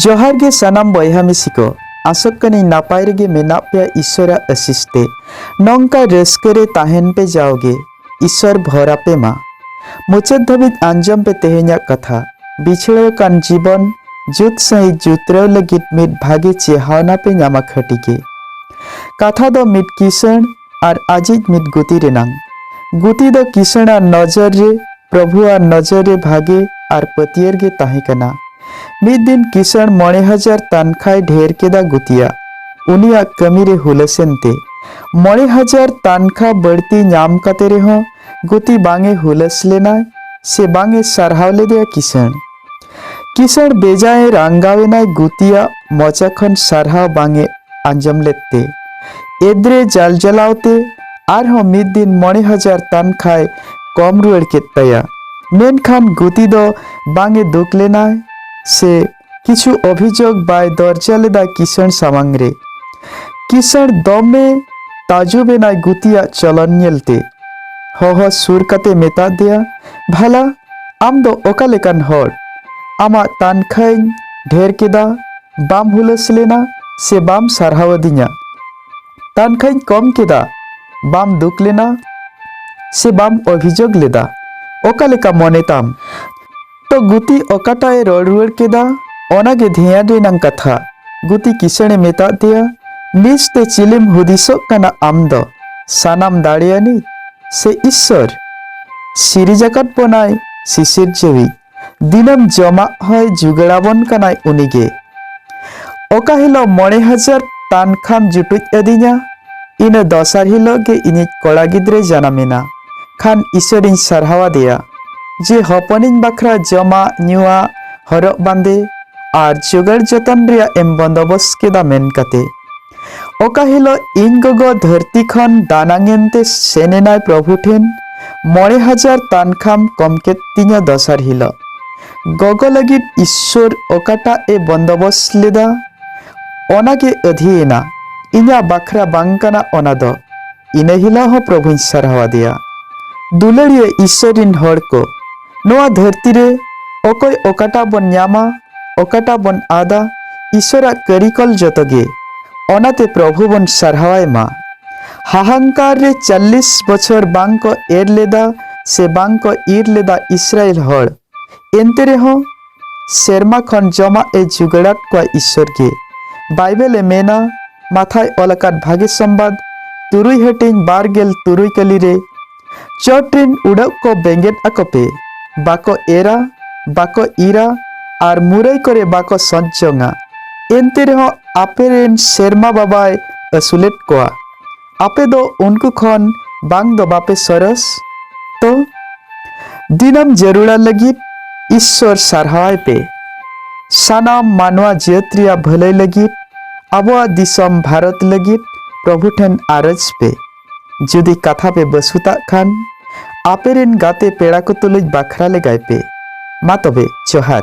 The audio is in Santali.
ᱡᱚᱦᱟᱨ ᱜᱮ ᱥᱟᱱᱟᱢ ᱵᱚᱭᱦᱟ ᱢᱤᱥᱤ ᱠᱚ ᱟᱥᱚᱜ ᱠᱟᱹᱱᱟᱹᱧ ᱱᱟᱯᱟᱭ ᱨᱮᱜᱮ ᱢᱮᱱᱟᱜ ᱯᱮᱭᱟ ᱤᱥᱚᱨᱟᱜ ᱟᱥᱤᱥ ᱛᱮ ᱱᱚᱝᱠᱟ ᱨᱟᱹᱥᱠᱟᱹ ᱨᱮ ᱛᱟᱦᱮᱱ ᱯᱮ ᱡᱟᱣᱜᱮ ᱤᱥᱚᱨ ᱵᱷᱚᱨ ᱟᱯᱮ ᱢᱟ ᱢᱩᱪᱟᱹᱫ ᱫᱷᱟᱹᱵᱤᱡ ᱟᱸᱡᱚᱢ ᱯᱮ ᱛᱮᱦᱮᱧᱟᱜ ᱠᱟᱛᱷᱟ ᱵᱤᱪᱷᱲᱟᱹᱣ ᱠᱟᱱ ᱡᱤᱵᱚᱱ ᱡᱩᱛ ᱥᱟᱺᱦᱤᱡ ᱡᱩᱛᱨᱟᱹᱣ ᱞᱟᱹᱜᱤᱫ ᱢᱤᱫ ᱵᱷᱟᱜᱮ ᱪᱮᱦᱟᱣᱱᱟ ᱯᱮ ᱧᱟᱢᱟ ᱠᱷᱟᱹᱴᱤ ᱜᱮ ᱠᱟᱛᱷᱟ ᱫᱚ ᱢᱤᱫ ᱠᱤᱥᱟᱹᱬ ᱟᱨ ᱟᱡᱤᱡ ᱢᱤᱫ ᱜᱩᱛᱤ ᱨᱮᱱᱟᱝ᱾ ᱜᱩᱛᱤ ᱫᱚ ᱠᱤᱥᱟᱹᱬ ᱟᱜ ᱱᱚᱡᱚᱨ ᱨᱮ ᱯᱨᱚᱵᱷᱩ ᱟᱜ ᱱᱚᱡᱚᱨ ᱨᱮ ᱵᱷᱟᱜᱮ ᱟᱨ ᱯᱟᱹᱛᱭᱟᱹᱨ ᱜᱮ ᱛᱟᱦᱮᱸ ᱠᱟᱱᱟ᱾ ᱢᱤᱫ ᱫᱤᱱ ᱠᱤᱥᱟᱹᱬ ᱢᱚᱬᱮ ᱦᱟᱡᱟᱨ ᱛᱟᱱᱠᱷᱟᱭ ᱰᱷᱮᱨ ᱠᱮᱫᱟ ᱜᱩᱛᱤᱭᱟᱜ ᱩᱱᱤᱭᱟᱜ ᱠᱟᱹᱢᱤ ᱨᱮ ᱦᱩᱞᱟᱹᱥᱮᱱ ᱛᱮ᱾ ᱢᱚᱬᱮ ᱦᱟᱡᱟᱨ ᱛᱟᱱᱠᱷᱟ ᱵᱟᱹᱲᱛᱤ ᱧᱟᱢ ᱠᱟᱛᱮ ᱨᱮᱦᱚᱸ ᱜᱩᱛᱤ ᱵᱟᱝ ᱮ ᱦᱩᱞᱟᱹᱥ ᱞᱮᱱᱟᱭ ᱥᱮ ᱵᱟᱝ ᱮ ᱥᱟᱨᱦᱟᱣ ᱞᱮᱫᱮᱭᱟ ᱠᱤᱥᱟᱹᱬ᱾ ᱠᱤᱥᱟᱹᱬ ᱵᱮᱡᱟᱭ ᱨᱟᱝᱜᱟᱣᱮᱱᱟᱭ ᱜᱩᱛᱤᱭᱟᱜ ᱢᱚᱪᱟ ᱠᱷᱚᱱ ᱥᱟᱨᱦᱟᱣ ᱵᱟᱝᱮ ᱟᱸᱡᱚᱢ ᱞᱮᱫ ᱛᱮ ᱮᱫᱽᱨᱮ ᱡᱟᱞ ᱡᱟᱞᱟᱣ ᱛᱮ ᱟᱨᱦᱚᱸ ᱢᱤᱫ ᱫᱤᱱ ᱢᱚᱬᱮ ᱦᱟᱡᱟᱨ ᱛᱟᱱᱠᱷᱟᱭ ᱠᱚᱢ ᱨᱩᱣᱟᱹᱲ ᱠᱮᱫ ᱛᱟᱭᱟ ᱢᱮᱱᱠᱷᱟᱱ ᱜᱩᱛᱤ ᱫᱚ ᱵᱟᱝᱮ ᱫᱩᱠ ᱞᱮᱱᱟ ᱥᱮ ᱠᱤᱪᱷᱩ ᱚᱵᱷᱤᱡᱳᱜᱽ ᱵᱟᱭ ᱫᱚᱨᱡᱟ ᱞᱮᱫᱟ ᱠᱤᱥᱟᱹᱬ ᱥᱟᱢᱟᱝ ᱨᱮ ᱠᱤᱥᱟᱹᱬ ᱫᱚᱢᱮ ᱛᱟᱡᱩᱵᱮᱱᱟᱭ ᱜᱩᱛᱤᱭᱟᱜ ᱪᱚᱞᱚᱱ ᱧᱮᱞᱛᱮ ᱦᱚᱦᱚ ᱥᱩᱨ ᱠᱟᱛᱮ ᱢᱮᱛᱟᱫᱮᱭᱟ ᱵᱷᱟᱞᱟ ᱟᱢ ᱫᱚ ᱚᱠᱟ ᱞᱮᱠᱟᱱ ᱦᱚᱲ? ᱟᱢᱟᱜ ᱛᱟᱱᱠᱷᱟᱹᱧ ᱰᱷᱮᱨ ᱠᱮᱫᱟ, ᱵᱟᱢ ᱦᱩᱞᱟᱹᱥ ᱞᱮᱱᱟ ᱥᱮ ᱵᱟᱢ ᱥᱟᱨᱦᱟᱣ ᱟᱹᱫᱤᱧᱟ᱾ ᱛᱟᱱᱠᱷᱟᱹᱧ ᱠᱚᱢ ᱠᱮᱫᱟ, ᱵᱟᱢ ᱫᱩᱠ ᱞᱮᱱᱟ ᱥᱮ ᱵᱟᱢ ᱚᱵᱷᱤᱡᱳᱜᱽ ᱞᱮᱫᱟ᱾ ᱚᱠᱟ ᱞᱮᱠᱟ ᱢᱚᱱᱮ ᱛᱟᱢ? ᱛᱚ ᱜᱩᱛᱤ ᱚᱠᱟᱴᱟᱜ ᱮ ᱨᱚᱲ ᱨᱩᱣᱟᱹᱲ ᱠᱮᱫᱟ ᱚᱱᱟ ᱜᱮ ᱫᱷᱮᱭᱟᱱ ᱨᱮᱱᱟᱝ ᱠᱟᱛᱷᱟ᱾ ᱜᱩᱛᱤ ᱠᱤᱥᱟᱹᱬ ᱮ ᱢᱮᱛᱟᱫ ᱫᱮᱭᱟ, ᱱᱤᱡᱽ ᱛᱮ ᱪᱤᱞᱤᱢ ᱦᱩᱫᱤᱥᱚᱜ ᱠᱟᱱᱟ ᱟᱢ ᱫᱚ? ᱥᱟᱱᱟᱢ ᱫᱟᱲᱮᱭᱟᱱᱤᱡ ᱥᱮ ᱤᱥᱥᱚᱨ ᱥᱤᱨᱤᱡ ᱟᱠᱟᱫ ᱵᱚᱱᱟᱭ ᱥᱤᱥᱤᱨ ᱡᱤᱣᱤ ᱫᱤᱱᱟᱹᱢ ᱡᱚᱢᱟᱜ ᱦᱚᱭ ᱡᱩᱜᱟᱲᱟᱵᱚᱱ ᱠᱟᱱᱟᱭ ᱩᱱᱤᱜᱮ ᱚᱠᱟ ᱦᱤᱞᱳᱜ ᱢᱚᱬᱮ ᱦᱟᱡᱟᱨ ᱴᱟᱱ ᱠᱷᱟᱢ ᱡᱩᱴᱩᱡ ᱟᱹᱫᱤᱧᱟ ᱤᱱᱟᱹ ᱫᱚᱥᱟᱨ ᱦᱤᱞᱳᱜ ᱜᱮ ᱤᱧᱤᱡ ᱠᱚᱲᱟ ᱜᱤᱫᱽᱨᱟᱹ ᱡᱟᱱᱟᱢᱮᱱᱟ ᱠᱷᱟᱱ ᱤᱥᱚᱨᱤᱧ ᱥᱟᱨᱦᱟᱣᱟᱫᱮᱭᱟ ᱡᱮ ᱦᱚᱯᱚᱱᱤᱧ ᱵᱟᱠᱷᱨᱟ ᱡᱚᱢᱟᱜ ᱧᱩᱣᱟᱜ ᱦᱚᱨᱚᱜ ᱵᱟᱸᱫᱮ ᱟᱨ ᱡᱚᱜᱟᱲ ᱡᱚᱛᱚᱱ ᱨᱮᱭᱟᱜ ᱮᱢ ᱵᱚᱱᱫᱚᱵᱚᱥ ᱠᱮᱫᱟ ᱢᱮᱱ ᱠᱟᱛᱮ ᱚᱠᱟ ᱦᱤᱞᱳᱜ ᱤᱧ ᱜᱚᱜᱚ ᱫᱷᱟᱹᱨᱛᱤ ᱠᱷᱚᱱ ᱫᱟᱱᱟᱝ ᱮᱱᱛᱮ ᱥᱮᱱ ᱮᱱᱟᱭ ᱯᱨᱚᱵᱷᱩ ᱴᱷᱮᱱ ᱢᱚᱬᱮ ᱦᱟᱡᱟᱨ ᱛᱟᱱᱠᱷᱟᱢ ᱠᱚᱢ ᱠᱮᱫ ᱛᱤᱧᱟ ᱫᱚᱥᱟᱨ ᱦᱤᱞᱳᱜ ᱜᱚᱜᱚ ᱞᱟᱹᱜᱤᱫ ᱤᱥᱥᱚᱨ ᱚᱠᱟᱴᱟᱜ ᱮ ᱵᱚᱱᱫᱚᱵᱚᱥ ᱞᱮᱫᱟ ᱚᱱᱟ ᱜᱮ ᱟᱹᱫᱷᱤᱭᱮᱱᱟ ᱤᱧᱟᱹᱜ ᱵᱟᱠᱷᱨᱟ ᱵᱟᱝ ᱠᱟᱱᱟ ᱚᱱᱟ ᱫᱚ ᱤᱱᱟᱹ ᱦᱤᱞᱳᱜ ᱦᱚᱸ ᱯᱨᱚᱵᱷᱩᱧ ᱥᱟᱨᱦᱟᱣ ᱟᱫᱮᱭᱟ ᱫᱩᱞᱟᱹᱲᱤᱭᱟᱹ ᱤᱥᱥᱚᱨ ᱨᱤᱱ ᱦᱚᱲ ᱠᱚ ᱱᱚᱣᱟ ᱫᱷᱟᱹᱨᱛᱤ ᱨᱮ ᱚᱠᱚᱭ ᱚᱠᱟᱴᱟᱜ ᱵᱚᱱ ᱧᱟᱢᱟ ᱚᱠᱟᱴᱟᱜ ᱵᱚᱱ ᱟᱫᱟ ᱤᱥᱚᱨᱟᱜ ᱠᱟᱹᱨᱤᱠᱚᱞ ᱡᱚᱛᱚ ᱜᱮ ᱚᱱᱟᱛᱮ ᱯᱨᱚᱵᱷᱩ ᱵᱚᱱ ᱥᱟᱨᱦᱟᱣᱟᱭ ᱢᱟ ᱦᱟᱦᱟᱝᱠᱟᱨ ᱨᱮ ᱪᱟᱞᱞᱤᱥ ᱵᱚᱪᱷᱚᱨ ᱵᱟᱝ ᱠᱚ ᱮᱨ ᱞᱮᱫᱟ ᱥᱮ ᱵᱟᱝ ᱠᱚ ᱤᱨ ᱞᱮᱫᱟ ᱤᱥᱨᱟᱭᱮᱞ ᱦᱚᱲ ᱮᱱᱛᱮ ᱨᱮᱦᱚᱸ ᱥᱮᱨᱢᱟ ᱠᱷᱚᱱ ᱡᱚᱢᱟᱜ ᱮ ᱡᱩᱜᱟᱲᱟᱫ ᱠᱚᱣᱟ ᱤᱥᱚᱨ ᱜᱮ ᱵᱟᱭᱵᱮᱞ ᱮ ᱢᱮᱱᱟ ᱢᱟᱛᱷᱟᱭ ᱚᱞ ᱟᱠᱟᱫ ᱵᱷᱟᱜᱮ ᱥᱚᱢᱵᱟᱫ ᱛᱩᱨᱩᱭ ᱦᱟᱹᱴᱤᱧ ᱵᱟᱨ ᱜᱮᱞ ᱛᱩᱨᱩᱭ ᱠᱟᱹᱞᱤ ᱨᱮ ᱪᱚᱴ ᱨᱤᱱ ᱩᱰᱟᱹᱜ ᱠᱚ ᱵᱮᱸᱜᱮᱫ ᱟᱠᱚᱯᱮ, ᱵᱟᱠᱚ ᱮᱨᱟ, ᱵᱟᱠᱚ ᱤᱨᱟ ᱟᱨ ᱢᱩᱨᱟᱹᱭ ᱠᱚᱨᱮ ᱵᱟᱠᱚ ᱥᱚᱸᱪ ᱡᱚᱝᱟ᱾ ᱮᱱᱛᱮ ᱨᱮᱦᱚᱸ ᱟᱯᱮ ᱨᱤᱱ ᱥᱮᱨᱢᱟ ᱵᱟᱵᱟᱭ ᱟᱹᱥᱩᱞᱮᱫ ᱠᱚᱣᱟ᱾ ᱟᱯᱮ ᱫᱚ ᱩᱱᱠᱩ ᱠᱷᱚᱱ ᱵᱟᱝ ᱫᱚ ᱵᱟᱯᱮ ᱥᱚᱨᱚᱥ? ᱛᱚ ᱫᱤᱱᱟᱹᱢ ᱡᱟᱹᱨᱩᱲᱟ ᱞᱟᱹᱜᱤᱫ ᱤᱥᱥᱚᱨ ᱥᱟᱨᱦᱟᱣᱟᱭ ᱯᱮ᱾ ᱥᱟᱱᱟᱢ ᱢᱟᱱᱣᱟ ᱡᱟᱹᱛ ᱨᱮᱭᱟᱜ ᱵᱷᱟᱹᱞᱟᱹᱭ ᱞᱟᱹᱜᱤᱫ, ᱟᱵᱚᱣᱟᱜ ᱫᱤᱥᱚᱢ ᱵᱷᱟᱨᱚᱛ ᱞᱟᱹᱜᱤᱫ ᱯᱨᱚᱵᱷᱩ ᱴᱷᱮᱱ ᱟᱨᱚᱡᱽ ᱯᱮ᱾ ᱡᱩᱫᱤ ᱠᱟᱛᱷᱟ ᱯᱮ ᱵᱟᱹᱥᱩᱛᱟᱜ ᱠᱷᱟᱱ ᱟᱯᱮ ᱨᱮᱱ ᱜᱟᱛᱮ ᱯᱮᱲᱟ ᱠᱚ ᱛᱩᱞᱩᱡ ᱵᱟᱠᱷᱨᱟ ᱞᱮᱜᱟᱭ ᱯᱮ ᱢᱟ ᱛᱚᱵᱮ ᱡᱚᱦᱟᱨ